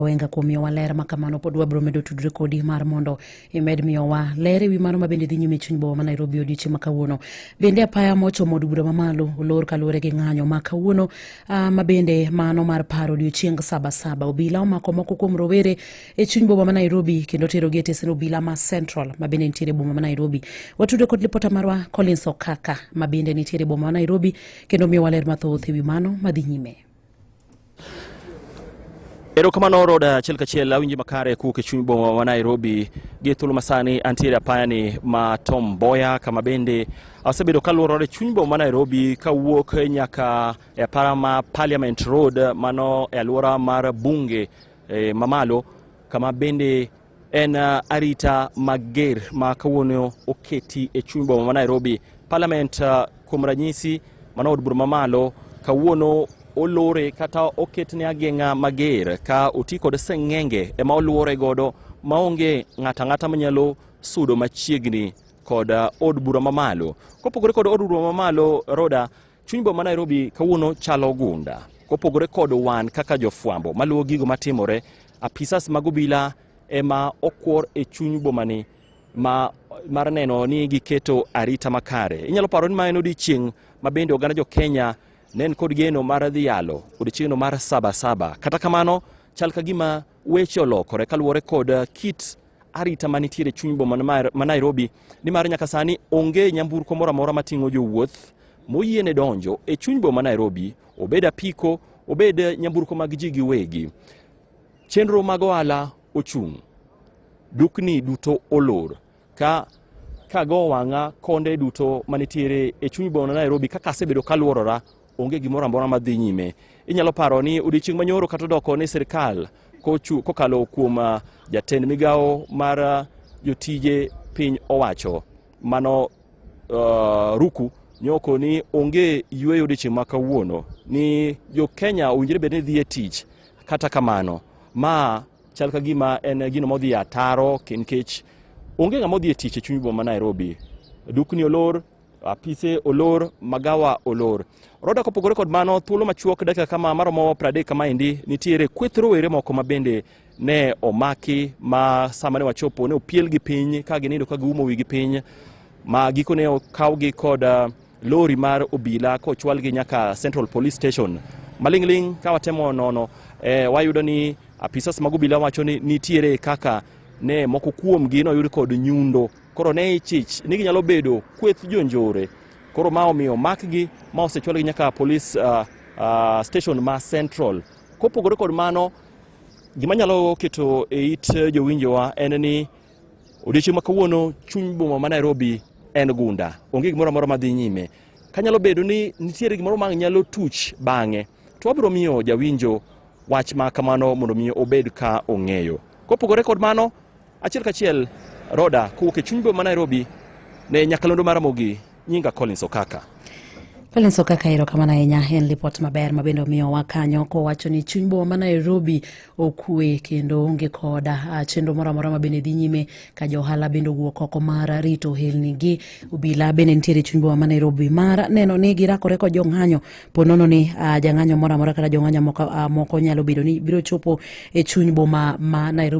Owenga kuom miyowa ler ma kamano pod wabiro medo tudre kodi mar mondo imed miyowa ler ewi mano mabende dhi nyime chuny boma ma Nairobi odiochieng' ma kawuono. Bende apaya mochomo od bura mamalo olor kaluwore gi ng'anyo ma kawuono ah, ma bende mano mar paro odiochieng' saba saba. Obila omako moko kuom rowere e chuny boma ma Nairobi kendo tero gi e tesend obila ma Central ma bende nitiere boma ma Nairobi. Watudre kod lipota marwa Collins Okaka ma bende nitiere boma ma Nairobi kendo miyowa ler mathoth ewi mano madhi nyime. Erokamano orod achiel kachiel awinji makare kuwuok e chuny boma ma Nairobi gi thuolo masani antiere apayani ma Tom Mboya kama bende asebedo kaluorore chuny boma ma Nairobi kawuok nyaka e apara ma Parliament Road mano e alwora mar bunge e, mamalo kama bende En uh, arita mager ma kawuono oketi e chuny boma ma Nairobi. Parliament uh, kuom ranyisi mano od bura mamalo kawuono olore kata oketne ageng'a mager ka oti kod seng'enge ema oluore godo maonge ng'ata ng'ata manyalo sudo machiegni kod uh, od bura mamalo. Kopogore kod od bura mamalo Roda Chuny boma Nairobi kawuono chalo gunda. Kopogore kod wan kaka jofwambo maluwo gigo matimore, apisas mag obila ema okwor e chuny bomani ma mar neno ni giketo arita makare. Inyalo paro ni ma en odiechieng' ma bende oganda jo Kenya ne en kod geno mar dhi yalo odiechieng'no mar sabasaba. Kata kamano, chal ka gima Weche olokore kaluwore kod uh, kit arita manitiere chuny boma ma Nairobi nimar nyaka sani onge nyamburko moro amora mating'o jowuoth moyiene donjo e chuny boma Nairobi obed apiko obed uh, nyamburko mag ji giwegi. Chenro mag ohala ochung', dukni duto olor. ka kago wang'a konde duto manitiere e chuny boma Nairobi kaka asebedo kaluorora onge gimoro amora madhi nyime. Inyalo paro ni odiechieng' manyoro kata odoko ni sirkal kokalo kuom ah, jatend migawo mar ah, jotije piny owacho mano uh, ruku nyoko ni onge yueyo odiechieng' ma kawuono ni jo Kenya owinjore bed ni dhi e tich kata kamano ma Chal ka gima en gino modhi e ataro nikech onge ng'ama odhi e tich e chuny boma ma Nairobi. Dukni olor, apise olor, magawa olor. Roda kopogore kod mano, thuolo machuok dakika kama maromo 30 kama endi nitiere kweth rowere moko ma bende ne omaki ma sama ne wachopo ne opielgi piny ka ginindo ka giumo wigi piny ma gikone okawgi kod uh, Lori mar obila kochwalgi nyaka Central Police Station maling'ling' ka watemo nono e, wayudo ni apisas mag obila wacho ni nitiere kaka ne moko kuomgi noyud kod nyundo koro ne ichich ni ginyalo bedo kweth jonjore koro ma omiyo makgi ma osechwalgi nyaka police uh, uh, station ma central kopogore kod mano gima nyalo keto e it jowinjowa en ni Odiechieng' ma kawuono chuny boma ma Nairobi en gunda, onge gimoro amora ma dhi nyime. Kanyalo bedo ni nitiere gimoro ma nyalo tuch bang'e, to wabiro miyo jawinjo wach ma kamano mondo mi obed ka ong'eyo. Kopogore kod mano, achiel kachiel Roda kowuok e chuny boma ma Nairobi ne nyakalondo mar Ramogi Nyinga Collins Okaka. Collins Okaka ero kamano ahinya en lipot maber ma bende omiyowa kanyo kowacho ni chuny boma ma Nairobi okwe kendo onge koda ah, chenro moro amora ma bende dhi nyime ka jo ohala bende owuok oko mar rito ohelnigi. Obila bende nitiere chuny boma ma Nairobi mar neno ni girakore kod jong'anyo po nono ni ah, jang'anyo moro amora kata jong'anyo moko ah, nyalo bedo ni biro chopo e chuny boma ma Nairobi.